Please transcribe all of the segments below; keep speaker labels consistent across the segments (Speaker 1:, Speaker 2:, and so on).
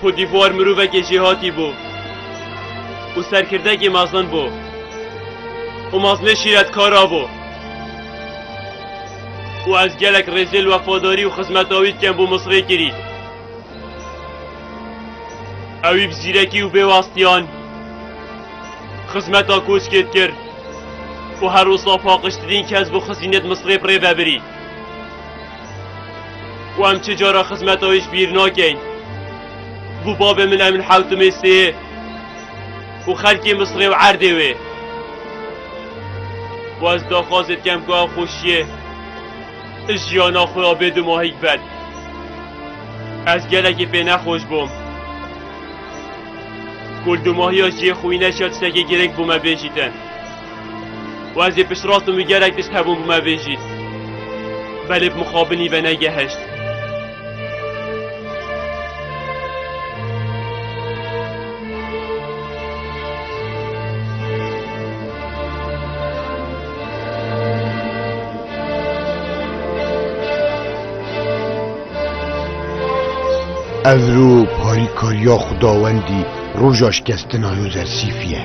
Speaker 1: Côte d'Ivoire mirovekê jêhatî bû û serkirdekê mezin bû û mezlê şîretkara bû û ez gelek rêzê li wefadarî û xizmeta wî dikem bo Misrê kirî. Ewî bi zîrekî û bê wastiyan xizmeta koçkê dikir û her wisa paqijtirîn kes bo xizînê di Misrê pirê vebirî. û em çi cara xizmeta wê ji bîr nakin. Bû babê min em li hewtimê sêyê û xelkê Misrê û erdê wê. Û ez daxwazê dikem ku ev xweşiyê ji jiyana xwe ya bê dimahîk ben. Ez gelekî pê nexweş bûm. Ku li dimahiya jiyê xwîne şer tiştekî girêng bû me bêjîtin. Wezê piştrast min gerek tişt hebûn bi me bêjî. Belê bi mixabinî ve negeheşt. Evro parîkariya xudawendî roja şikestina Yozersîfî ye.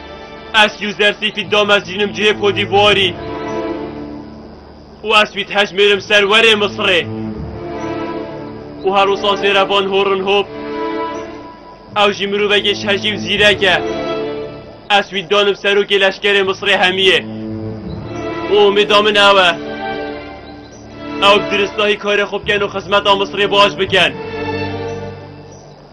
Speaker 1: Ez Yuzer Sîfî Damez jînim cihê Kodîvuarî û ez wî dihejmêrim ser werê Misirê û her wisa zêre van horin hop. Ew jî mirovekê şehjî û zîrek e. Ez wî danim serokê leşkerê Misirê hemiyê û umêda min ew e. Ew bi diristahî karê xwe bikin û xizmeta Misirê baş bikin.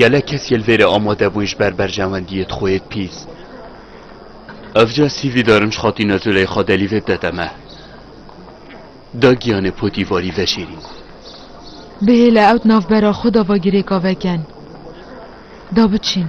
Speaker 1: Gelek kes yê li vêrê amade bûn ji ber berjewendiyê di xwe yê pîs. Ev ca CV darim ji Xatîna Zuleyxa Delî vê bide te me. Da giyanê potî varî veşêrîn. Bihêle ew di navbera xwe de va girêka veken. Da biçîn.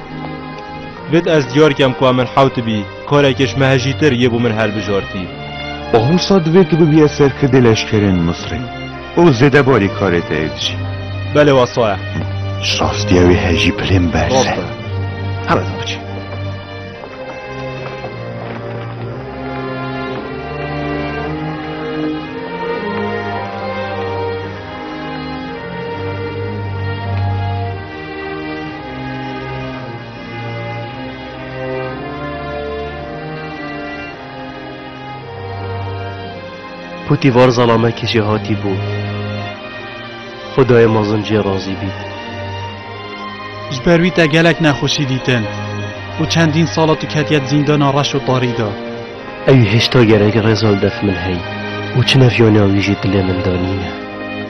Speaker 1: Vit ez diyar kem ku em min hew tu bî, karekê ji me hejîtir yê bo min hilbijartî. Ahusa divê tu bibîye serkirdê leşkerên Misrê û zêdebarî karê te yê dijî. Belê wasa ye. Ji rastiya wê hejî pilên berz e. Rast e. Here tu biçî. Putî var zalamekî jê hatî bû. Xwedayê mezin jê razî bît. Ji ber wî te gelek nexweşî dîtin û çendîn sala tu ketiye di zîndana reş û tarî de. Ewî hêşta gerek rêza li def min hey û çi nefyaniya wî jî dilê min de nîne.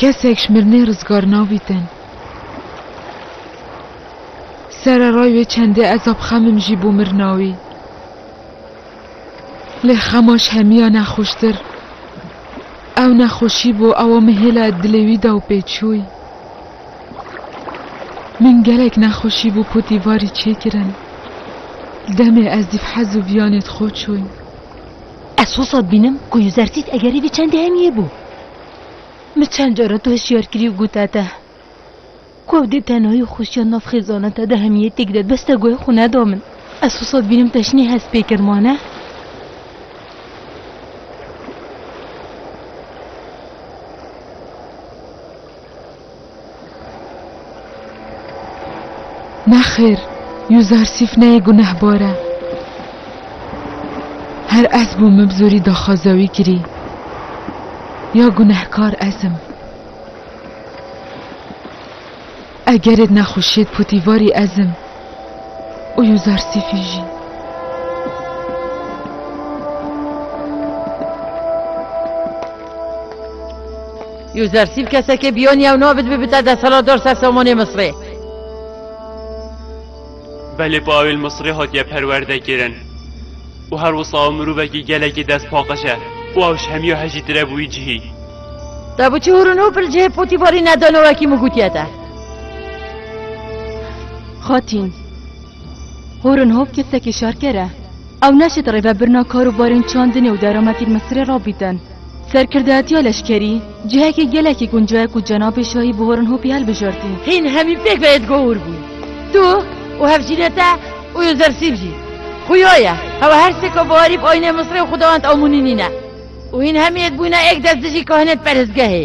Speaker 1: Kesek ji mirinê rizgar nabîtin. Sereray wê çendê ezabxemim jî bû mirina wî. Lê xema ji hemiya nexweştir ew nexweşî bû ewa min hêla di dilê wî de û pê çûy. Min gelek nexweşî bû potî varî çêkirin. Demê ez dîvhez û viyanê di xwe çûy. Ez sosa bînim ku Yuzertît egerî vê çendê hemiyê bû. Min çend cara tu hişyar kirî û gote te ku ew dê tenayî û xweşiya nav xêzana te de hemiyê têk de bes te guhê xwe neda min. Ez sosa bînim te jinê hest pê kir ma ne? Nexêr, Yuzarsîf neyê gunehbar e. Her ez bûm min bi zorî daxwaza wî kirî. Ya gunehkar ez im. Egerê di nexweşiyê de potîvarî ez im. û Yuzarsîfî jî. Yuzarsîf kesekê biyonî ew nabit bibite desthilatdar ser samanê Misrê. Belê bi awêl Misrê hatiye perwerdekirin û her wisa ew mirovekî gelekî destpaqij e û ew ji hemiya hejîtir e bi wî cihî. Te bi çi hûr û nû pil cihê potî barî nedano wekî min gotiye te? Xatîn, Horin Hop kesekî şarker e. Ew naşit rêvebirina kar û barên çandinê û derametên Misirê rabîtin. Serkirdeyatiya leşkerî cihekî gelekî gunco ye ku cenabê şahî bi Horin Hopî hilbijartî. Hîn hemî pêk ve yedgo hûr bûn. Tu û hevjînê te û Yûzersîb jî. Xuya ye, hewa her sê ka biharî bi ayînê Misirê û xwedawend Amonî nîne. Û hîn hemî yek bûyîne êk dest dijî kahinên perhizgehê.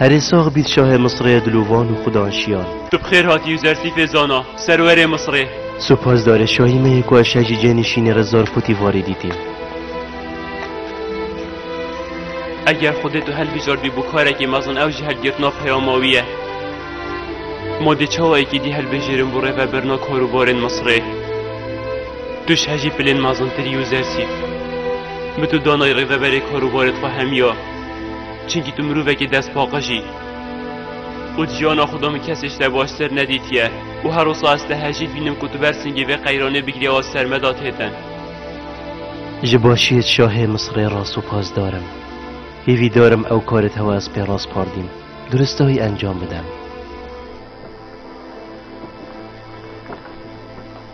Speaker 1: Herê sax bît şahê Misrê dilovan û xudan şiyan. Tu bi xêr hatî Yuzersîfê zana, serwerê Misrê. Supas dare şahî me yê ku eşe jî cênî şînê re zar potî varê dîtîn. Eger xwedê tu helbijardbî bo karekê mezin ew jî helbgirtina peyama wî ye. Ma dê çawa yekî dî helbijêrin bo rêvebirina karûbarên Misrê. Tu ji hejî pilên mezintirî Yuzersîf. Min tu danayî rêveberê karûbarê xwe hemiya, çimkî tu mirovekî destpaqij î. Û di jiyana xwe de min kesê ji te baştir nedîtiye û her wisa ez te hejî dibînim ku tu ber singê vê qeyranê bigirî a ser me de têtin. Ji başiyê şahê Misirê re supazdar im. Hîvîdar im ew karê te wa ez pê raspardîm, duristayî encam bidem.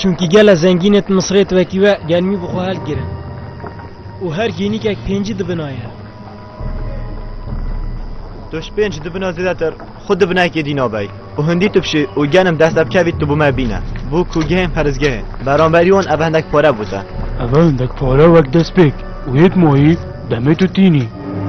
Speaker 1: Çunkî gela zengîn ê Misirê ti wekî we gelmî bi xwe helk girin û her hînîkek pêncî dibina ye. Tu ji pênc dibina zêdetir xwe di binayekê dî nabey û hindî tu bişî û genim dest te bikevî tu bi me bîne bû kûgehên perizgehê. Beramberî wan ev hindek pare bû te. Ev hindek pare wek destpêk û yek mayî demê tu tînî.